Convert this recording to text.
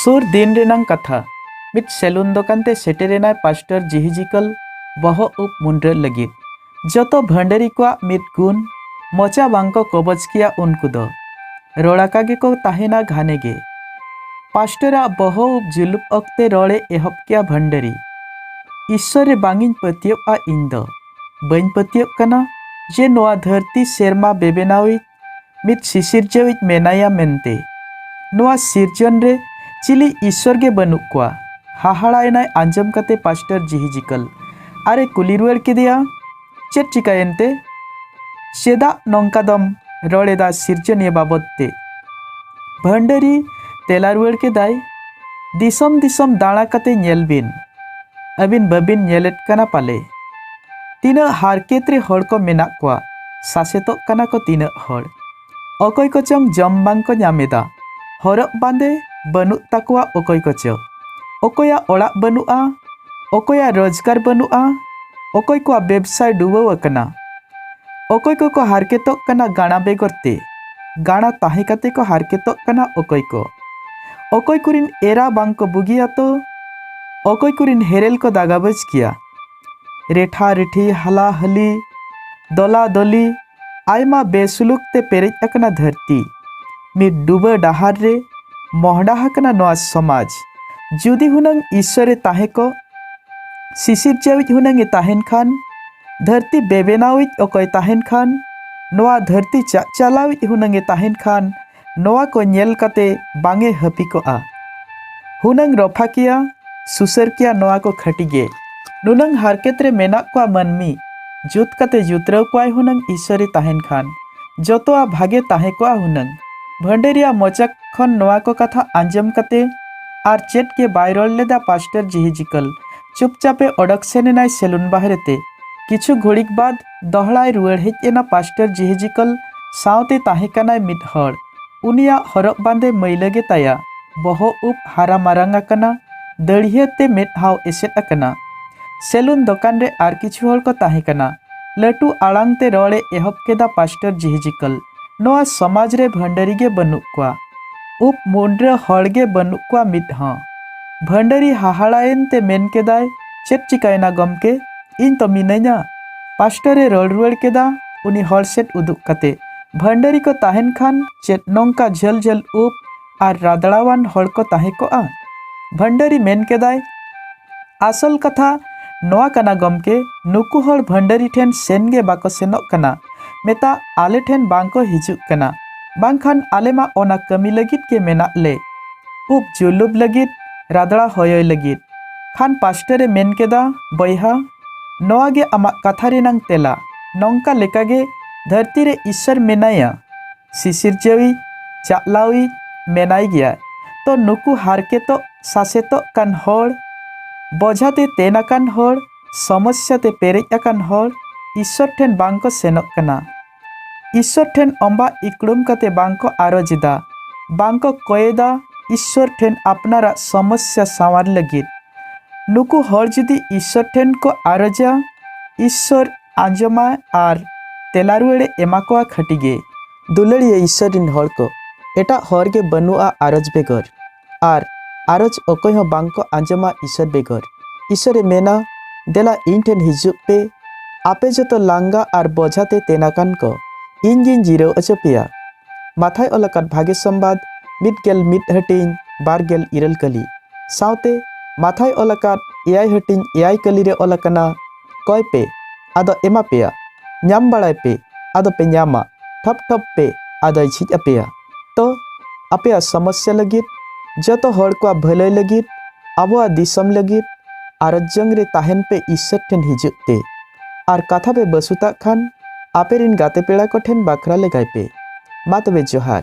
ᱥᱩᱨ ᱫᱤᱱ ᱨᱮᱱᱟᱝ ᱠᱟᱛᱷᱟ ᱢᱤᱫ ᱥᱮᱞᱩᱱ ᱫᱚᱠᱟᱱ ᱛᱮ ᱥᱮᱴᱮᱨᱮᱱᱟᱭ ᱯᱟᱥᱴᱚᱨ ᱡᱤᱦᱤᱡᱤᱠᱚᱞ ᱵᱚᱦᱚᱜ ᱩᱵ ᱢᱩᱱᱰᱨᱟᱹ ᱞᱟᱹᱜᱤᱫ ᱡᱚᱛᱚ ᱵᱷᱟᱹᱱᱰᱟᱹᱨᱤ ᱠᱚᱣᱟᱜ ᱢᱤᱫ ᱜᱩᱱ ᱢᱚᱪᱟ ᱵᱟᱝᱠᱚ ᱠᱚᱵᱚᱡ ᱠᱮᱭᱟ ᱩᱱᱠᱩ ᱫᱚ ᱨᱚᱲᱟᱠᱟ ᱜᱮᱠᱚ ᱛᱟᱦᱮᱱᱟ ᱜᱷᱟᱱᱮ ᱜᱮ ᱯᱟᱥᱴᱚᱨᱟᱜ ᱵᱚᱦᱚᱜ ᱩᱵ ᱡᱩᱞᱩᱯ ᱚᱠᱛᱮ ᱨᱚᱲᱮ ᱮᱦᱚᱵ ᱠᱮᱭᱟ ᱵᱷᱟᱹᱱᱰᱟᱹᱨᱤ ᱤᱥᱥᱚᱨ ᱨᱮ ᱵᱟᱝᱤᱧ ᱯᱟᱹᱛᱭᱟᱹᱣᱼᱟ ᱤᱧ ᱫᱚ ᱵᱟᱹᱧ ᱯᱟᱹᱛᱭᱟᱹᱜ ᱠᱟᱱᱟ ᱡᱮ ᱱᱚᱣᱟ ᱫᱷᱟᱹᱨᱛᱤ ᱥᱮᱨᱢᱟ ᱵᱮᱵᱮᱱᱟᱣᱤᱡ ᱢᱤᱫ ᱥᱤᱥᱤᱨᱡᱟᱹᱣᱤᱡ ᱢᱮᱱᱟᱭᱟ ᱢᱮᱱᱛᱮ᱾ ᱱᱚᱣᱟ ᱥᱤᱨᱡᱚᱱ ᱨᱮ ᱪᱤᱞᱤ ᱤᱥᱥᱚᱨ ᱜᱮ ᱵᱟᱹᱱᱩᱜ ᱠᱚᱣᱟ᱾ ᱦᱟᱦᱟᱲᱟ ᱮᱱᱟᱭ ᱟᱸᱡᱚᱢ ᱠᱟᱛᱮ ᱯᱟᱥᱴᱚᱨ ᱡᱤᱦᱤᱡᱤᱠᱟᱹᱞ ᱟᱨ ᱮ ᱠᱩᱞᱤ ᱨᱩᱣᱟᱹᱲ ᱠᱮᱫᱮᱭᱟ, ᱪᱮᱫ ᱪᱤᱠᱟᱹᱭᱮᱱ ᱛᱮ? ᱪᱮᱫᱟᱜ ᱱᱚᱝᱠᱟ ᱫᱚᱢ ᱨᱚᱲ ᱮᱫᱟ ᱥᱤᱨᱡᱚᱱᱤᱭᱟᱹ ᱵᱟᱵᱚᱛ ᱛᱮ? ᱵᱷᱟᱹᱱᱰᱟᱹᱨᱤ ᱛᱮᱞᱟ ᱨᱩᱣᱟᱹᱲ ᱠᱮᱫᱟᱭ, ᱫᱤᱥᱚᱢ ᱫᱤᱥᱚᱢ ᱫᱟᱬᱟ ᱠᱟᱛᱮ ᱧᱮᱞ ᱵᱤᱱ ᱟᱹᱵᱤᱱ ᱵᱟᱹᱵᱤᱱ ᱧᱮᱞᱮᱫ ᱠᱟᱱᱟ ᱯᱟᱞᱮ ᱛᱤᱱᱟᱹᱜ ᱦᱟᱨᱠᱮᱛ ᱨᱮ ᱦᱚᱲ ᱠᱚ ᱢᱮᱱᱟᱜ ᱠᱚᱣᱟ ᱥᱟᱥᱮᱛᱚᱜ ᱠᱟᱱᱟ ᱠᱚ ᱛᱤᱱᱟᱹᱜ ᱦᱚᱲ ᱚᱠᱚᱭ ᱠᱚᱪᱚᱝ ᱡᱚᱢ ᱵᱟᱝ ᱠᱚ ᱧᱟᱢ ᱮᱫᱟ ᱦᱚᱨᱚᱜ ᱵᱟᱸᱫᱮ ᱵᱟᱹᱱᱩᱜ ᱛᱟᱠᱚᱣᱟ ᱚᱠᱚᱭ ᱠᱚᱪᱚ ᱚᱠᱚᱭᱟᱜ ᱚᱲᱟᱜ ᱵᱟᱹᱱᱩᱜᱼᱟ ᱚᱠᱚᱭᱟᱜ ᱨᱳᱡᱽᱜᱟᱨ ᱵᱟᱹᱱᱩᱜᱼᱟ ᱚᱠᱚᱭ ᱠᱚᱣᱟᱜ ᱵᱮᱵᱽᱥᱟᱭ ᱰᱩᱵᱟᱹᱣ ᱟᱠᱟᱱᱟ ᱚᱠᱚᱭ ᱠᱚᱠᱚ ᱦᱟᱨᱠᱮᱛᱚᱜ ᱠᱟᱱᱟ ᱜᱟᱬᱟ ᱵᱮᱜᱚᱨ ᱛᱮ ᱜᱟᱬᱟ ᱛᱟᱦᱮᱸ ᱠᱟᱛᱮ ᱠᱚ ᱦᱟᱨᱠᱮᱛᱚᱜ ᱠᱟᱱᱟ ᱚᱠᱚᱭ ᱠᱚ ᱚᱠᱚᱭ ᱠᱚᱨᱮᱱ ᱮᱨᱟ ᱵᱟᱝ ᱠᱚ ᱵᱩᱜᱤᱭᱟ ᱛᱚ ᱚᱠᱚᱭ ᱠᱚᱨᱮᱱ ᱦᱮᱨᱮᱞ ᱠᱚ ᱫᱟᱜᱟᱵᱟᱡᱽ ᱠᱮᱭᱟ ᱨᱮᱴᱷᱟ ᱨᱮᱴᱷᱤ ᱦᱟᱞᱟ ᱦᱟᱹᱞᱤ ᱫᱚᱞᱟ ᱫᱚᱞᱤ ᱟᱭᱢᱟ ᱵᱮᱥᱩᱞᱩᱠ ᱛᱮ ᱯᱮᱨᱮᱡ ᱟᱠᱟᱱᱟ ᱫᱷᱟᱹᱨᱛᱤ ᱢᱤᱫ ᱰᱩᱵᱟᱹ ᱰᱟᱦᱟᱨ ᱨᱮ ᱢᱚᱦᱰᱟ ᱟᱠᱟᱱᱟ ᱱᱚᱣᱟ ᱥᱚᱢᱟᱡᱽ ᱡᱩᱫᱤ ᱦᱩᱱᱟᱹᱝ ᱤᱥᱥᱚᱨᱮ ᱛᱟᱦᱮᱸ ᱠᱚᱜ ᱥᱤᱥᱤᱨᱡᱟᱹᱣᱤᱡ ᱦᱩᱱᱟᱹᱝ ᱮ ᱛᱟᱦᱮᱱ ᱠᱷᱟᱱ ᱫᱷᱟᱹᱨᱛᱤ ᱵᱮᱵᱮᱱᱟᱣᱤᱡ ᱚᱠᱚᱭ ᱛᱟᱦᱮᱱ ᱠᱷᱟᱱ ᱱᱚᱣᱟ ᱫᱷᱟᱹᱨᱛᱤ ᱪᱟᱪᱟᱞᱟᱣᱤᱡ ᱦᱩᱱᱟᱹᱝ ᱮ ᱛᱟᱦᱮᱱ ᱠᱷᱟᱱ ᱱᱚᱣᱟ ᱠᱚ ᱧᱮᱞ ᱠᱟᱛᱮ ᱵᱟᱝ ᱮ ᱦᱟᱹᱯᱤ ᱠᱚᱜᱼᱟ ᱦᱩᱱᱟᱹᱝ ᱨᱚᱯᱷᱟᱠᱤᱭᱟ ᱥᱩᱥᱟᱹᱨᱠᱤᱭᱟ ᱱᱚᱣᱟ ᱠᱚ ᱠᱷᱟᱹᱴᱤ ᱜᱮ ᱱᱩᱱᱟᱹᱝ ᱦᱟᱨᱠᱮᱛ ᱨᱮ ᱢᱮᱱᱟᱜ ᱠᱚᱣᱟ ᱢᱟᱹᱱᱢᱤ ᱡᱩᱛ ᱠᱟᱛᱮ ᱡᱩᱛᱨᱟᱹᱣ ᱠᱚᱣᱟᱭ ᱦᱩᱱᱟᱹᱝ ᱤᱥᱚᱨᱤ ᱛᱟᱦᱮᱱ ᱠᱷᱟᱱ ᱡᱚᱛᱚᱣᱟᱜ ᱵᱷᱟᱜᱮ ᱛᱟᱦᱮᱸ ᱠᱚᱜᱼᱟ ᱦᱩᱱᱟᱹᱝ ᱵᱷᱟᱹᱱᱰᱟᱹᱨᱤᱭᱟ ᱢᱚᱪᱟ ᱠᱷᱚᱱ ᱱᱚᱣᱟ ᱠᱚ ᱠᱟᱛᱷᱟ ᱟᱸᱡᱚᱢ ᱠᱟᱛᱮ ᱟᱨ ᱪᱮᱫ ᱜᱮ ᱵᱟᱭ ᱨᱚᱲ ᱞᱮᱫᱟ ᱯᱟᱥᱴᱚᱨ ᱡᱤᱦᱤᱡᱤᱠᱚᱞ ᱪᱩᱯᱪᱟᱯᱮ ᱚᱰᱚᱠ ᱥᱮᱱ ᱮᱱᱟᱭ ᱥᱮᱞᱩᱱ ᱵᱟᱦᱨᱮ ᱛᱮ ᱠᱤᱪᱷᱩ ᱜᱷᱩᱲᱤᱠ ᱵᱟᱫᱽ ᱫᱚᱦᱲᱟᱭ ᱨᱩᱣᱟᱹᱲ ᱦᱮᱡ ᱮᱱᱟ ᱯᱟᱥᱴᱟᱨ ᱡᱮᱦᱮᱡᱤᱠᱚᱞ ᱥᱟᱶᱛᱮ ᱛᱟᱦᱮᱸ ᱠᱟᱱᱟᱭ ᱢᱤᱫ ᱦᱚᱲ ᱩᱱᱤᱭᱟᱜ ᱦᱚᱨᱚᱜ ᱵᱟᱸᱫᱮ ᱢᱟᱹᱭᱞᱟᱹ ᱜᱮ ᱛᱟᱭᱟ ᱵᱚᱦᱚᱜ ᱩᱵ ᱦᱟᱨᱟ ᱢᱟᱨᱟᱝ ᱟᱠᱟᱱᱟ ᱫᱟᱹᱲᱦᱤᱭᱟᱹ ᱛᱮ ᱢᱮᱫᱦᱟᱣ ᱮᱥᱮᱫ ᱟᱠᱟᱱᱟ ᱥᱮᱞᱩᱱ ᱫᱚᱠᱟᱱ ᱨᱮ ᱟᱨ ᱠᱤᱪᱷᱩ ᱦᱚᱲ ᱠᱚ ᱛᱟᱦᱮᱸ ᱠᱟᱱᱟ ᱞᱟᱹᱴᱩ ᱟᱲᱟᱝ ᱛᱮ ᱨᱚᱲ ᱮ ᱮᱦᱚᱵ ᱠᱮᱫᱟ ᱯᱟᱥᱴᱟᱨ ᱡᱮᱦᱮᱡᱤᱠᱚᱞ ᱱᱚᱣᱟ ᱥᱚᱢᱟᱡᱽ ᱨᱮ ᱵᱷᱟᱹᱱᱰᱟᱹᱨᱤ ᱜᱮ ᱵᱟᱹᱱᱩᱜ ᱠᱚᱣᱟ ᱩᱯ ᱢᱩᱱᱰᱨᱟᱹ ᱦᱚᱲ ᱜᱮ ᱵᱟᱹᱱᱩᱜ ᱠᱚᱣᱟ ᱢᱤᱫ ᱦᱚᱸ ᱵᱷᱟᱹᱱᱰᱟᱹᱨᱤ ᱦᱟᱦᱟᱲᱟᱭᱮᱱ ᱛᱮ ᱢᱮᱱ ᱠᱮᱫᱟᱭ ᱪᱮᱫ ᱪᱤᱠᱟᱹᱭᱮᱱᱟ ᱜᱚᱢᱠᱮ ᱤᱧ ᱛᱚ ᱢᱤᱱᱟᱹᱧᱟ ᱯᱟᱥᱴᱚᱨᱮ ᱨᱚᱲ ᱨᱩᱣᱟᱹᱲ ᱠᱮᱫᱟ ᱩᱱᱤ ᱦᱚᱲ ᱥᱮᱫ ᱩᱫᱩᱜ ᱠᱟᱛᱮ ᱵᱷᱟᱹᱱᱰᱟᱹᱨᱤ ᱠᱚ ᱛᱟᱦᱮᱱ ᱠᱷᱟᱱ ᱪᱮᱫ ᱱᱚᱝᱠᱟ ᱡᱷᱟᱹᱞ ᱡᱷᱟᱹᱞ ᱩᱯ ᱟᱨ ᱨᱟᱫᱲᱟᱣᱟᱱ ᱦᱚᱲ ᱠᱚ ᱛᱟᱦᱮᱸ ᱠᱚᱜᱼᱟ ᱵᱷᱟᱱᱰᱟᱨᱤ ᱢᱮᱱ ᱠᱮᱫᱟᱭ ᱟᱥᱚᱞ ᱠᱟᱛᱷᱟ ᱱᱚᱣᱟ ᱠᱟᱱᱟ ᱜᱚᱢᱠᱮ ᱱᱩᱠᱩ ᱦᱚᱲ ᱵᱷᱟᱱᱰᱟᱨᱤ ᱴᱷᱮᱱ ᱥᱮᱱ ᱜᱮ ᱵᱟᱠᱚ ᱥᱮᱱᱚᱜ ᱠᱟᱱᱟ ᱢᱮᱛᱟ ᱟᱞᱮ ᱴᱷᱮᱱ ᱵᱟᱝ ᱠᱚ ᱦᱤᱡᱩᱜ ᱠᱟᱱᱟ ᱵᱟᱝᱠᱷᱟᱱ ᱟᱞᱮ ᱢᱟ ᱚᱱᱟ ᱠᱟᱹᱢᱤ ᱞᱟᱹᱜᱤᱫ ᱜᱮ ᱢᱮᱱᱟᱜ ᱞᱮ ᱩᱵ ᱡᱩᱞᱩᱵ ᱞᱟᱹᱜᱤᱫ ᱨᱟᱫᱲᱟ ᱦᱚᱭᱚᱭ ᱞᱟᱹᱜᱤᱫ ᱠᱷᱟᱱ ᱯᱟᱥᱴᱟᱨᱮ ᱢᱮᱱ ᱠᱮᱫᱟ ᱵᱚᱭᱦᱟ ᱱᱚᱣᱟ ᱜᱮ ᱟᱢᱟᱜ ᱠᱟᱛᱷᱟ ᱨᱮᱱᱟᱝ ᱛᱮᱞᱟ ᱱᱚᱝᱠᱟ ᱞᱮᱠᱟᱜᱮ ᱫᱷᱟᱹᱨᱛᱤ ᱨᱮ ᱤᱥᱥᱚᱨ ᱢᱮᱱᱟᱭᱟ ᱥᱤᱥᱤᱨᱡᱟᱹᱣᱤᱡ ᱪᱟᱪᱞᱟᱣᱤᱡ ᱢᱮᱱᱟᱭ ᱜᱮᱭᱟ ᱛᱚ ᱱᱩᱠᱩ ᱦᱟᱨᱠᱮᱛᱚᱜ ᱥᱟᱥᱮᱛᱚᱜ ᱠᱟᱱ ᱦᱚᱲ ᱵᱚᱡᱷᱟ ᱛᱮ ᱛᱮᱱ ᱟᱠᱟᱱ ᱦᱚᱲ ᱥᱚᱢᱚᱥᱥᱟ ᱛᱮ ᱯᱮᱨᱮᱡ ᱟᱠᱟᱱ ᱦᱚᱲ ᱤᱥᱥᱚᱨ ᱴᱷᱮᱱ ᱵᱟᱝ ᱠᱚ ᱥᱮᱱᱚᱜ ᱠᱟᱱᱟ ᱤᱥᱥᱚᱨ ᱴᱷᱮᱱ ᱚᱢᱵᱟ ᱤᱠᱲᱩᱢ ᱠᱟᱛᱮ ᱵᱟᱝ ᱠᱚ ᱟᱨᱚᱡ ᱮᱫᱟ ᱵᱟᱝ ᱠᱚ ᱠᱚᱭᱮᱫᱟ ᱤᱥᱥᱚᱨ ᱴᱷᱮᱱ ᱟᱯᱱᱟᱨᱟᱜ ᱥᱚᱢᱚᱥᱥᱟ ᱥᱟᱶᱟᱨ ᱞᱟᱹᱜᱤᱫ ᱱᱩᱠᱩ ᱦᱚᱲ ᱡᱩᱫᱤ ᱤᱥᱥᱚᱨ ᱴᱷᱮᱱ ᱠᱚ ᱟᱨᱚᱡᱟ ᱤᱥᱥᱚᱨ ᱟᱸᱡᱚᱢᱟ ᱟᱨ ᱛᱮᱞᱟ ᱨᱩᱣᱟᱹᱲᱮ ᱮᱢᱟ ᱠᱚᱣᱟ ᱠᱷᱟᱹᱴᱤ ᱜᱮ ᱫᱩᱞᱟᱹᱲᱤᱭᱟᱹ ᱤᱥᱥᱚᱨ ᱨᱤᱱ ᱦᱚᱲ ᱠᱚ ᱮᱴᱟᱜ ᱦᱚᱨ ᱜᱮ ᱵᱟᱹᱱᱩᱜᱼᱟ ᱟᱨᱚᱡᱽ ᱵᱮᱜᱚᱨ ᱟᱨ ᱟᱨᱚᱡᱽ ᱚᱠᱚᱭ ᱦᱚᱸ ᱵᱟᱝ ᱠᱚ ᱟᱸᱡᱚᱢᱟ ᱤᱥᱥᱚᱨ ᱵᱮᱜᱚᱨ ᱤᱥᱥᱚᱨᱮ ᱢᱮᱱᱟ ᱫᱮᱞᱟ ᱤᱧ ᱴᱷᱮᱱ ᱦᱤᱡᱩᱜ ᱯᱮ ᱟᱯᱮ ᱡᱚᱛᱚ ᱞᱟᱸᱜᱟ ᱟᱨ ᱵᱚᱡᱷᱟ ᱛᱮ ᱛᱮᱱ ᱟᱠᱟᱱ ᱠᱚ ᱤᱧ ᱜᱤᱧ ᱡᱤᱨᱟᱹᱣ ᱚᱪᱚ ᱯᱮᱭᱟ ᱢᱟᱛᱷᱟᱭ ᱚᱞ ᱟᱠᱟᱫ ᱵᱷᱟᱜᱮ ᱥᱚᱢᱵᱟᱫ ᱢᱤᱫ ᱜᱮᱞ ᱢᱤᱫ ᱦᱟᱹᱴᱤᱧ ᱵᱟᱨ ᱜᱮᱞ ᱤᱨᱟᱹᱞ ᱠᱟᱹᱞᱤ ᱥᱟᱶᱛᱮ ᱢᱟᱛᱷᱟᱭ ᱚᱞ ᱟᱠᱟᱫ ᱮᱭᱟᱭ ᱦᱟᱹᱴᱤᱧ ᱮᱭᱟᱭ ᱠᱟᱹᱞᱤ ᱨᱮ ᱚᱞ ᱟᱠᱟᱱᱟ ᱠᱚᱭ ᱯᱮ ᱟᱫᱚ ᱮᱢᱟ ᱯᱮᱭᱟ ᱧᱟᱢ ᱵᱟᱲᱟᱭ ᱯᱮ ᱟᱫᱚ ᱯᱮ ᱧᱟᱢᱟ ᱴᱷᱚᱯ ᱴᱷᱚᱯ ᱯᱮ ᱟᱫᱚᱭ ᱡᱷᱤᱡ ᱟᱯᱮᱭᱟ ᱛᱚ ᱟᱯᱮᱭᱟᱜ ᱥᱚᱢᱚᱥᱭᱟ ᱞᱟᱹᱜᱤᱫ ᱡᱚᱛᱚ ᱦᱚᱲ ᱠᱚᱣᱟᱜ ᱵᱷᱟᱹᱞᱟᱹᱭ ᱞᱟᱹᱜᱤᱫ ᱟᱵᱚᱣᱟᱜ ᱫᱤᱥᱚᱢ ᱞᱟᱹᱜᱤᱫ ᱟᱨᱡᱚᱝ ᱨᱮ ᱛᱟᱦᱮᱱ ᱯᱮ ᱤᱥᱥᱚᱨ ᱴᱷᱮᱱ ᱦᱤᱡᱩᱜ ᱛᱮ ᱟᱨ ᱠᱟᱛᱷᱟ ᱯᱮ ᱵᱟᱹᱥᱩᱛᱟᱜ ᱠᱷᱟᱱ ᱟᱯᱮ ᱨᱤᱱ ᱜᱟᱛᱮ ᱯᱮᱲᱟ ᱠᱚ ᱴᱷᱮᱱ ᱵᱟᱠᱷᱨᱟ ᱞᱮᱜᱟᱭ ᱯᱮ ᱢᱟ ᱛᱚᱵᱮ ᱡᱚᱦᱟᱨ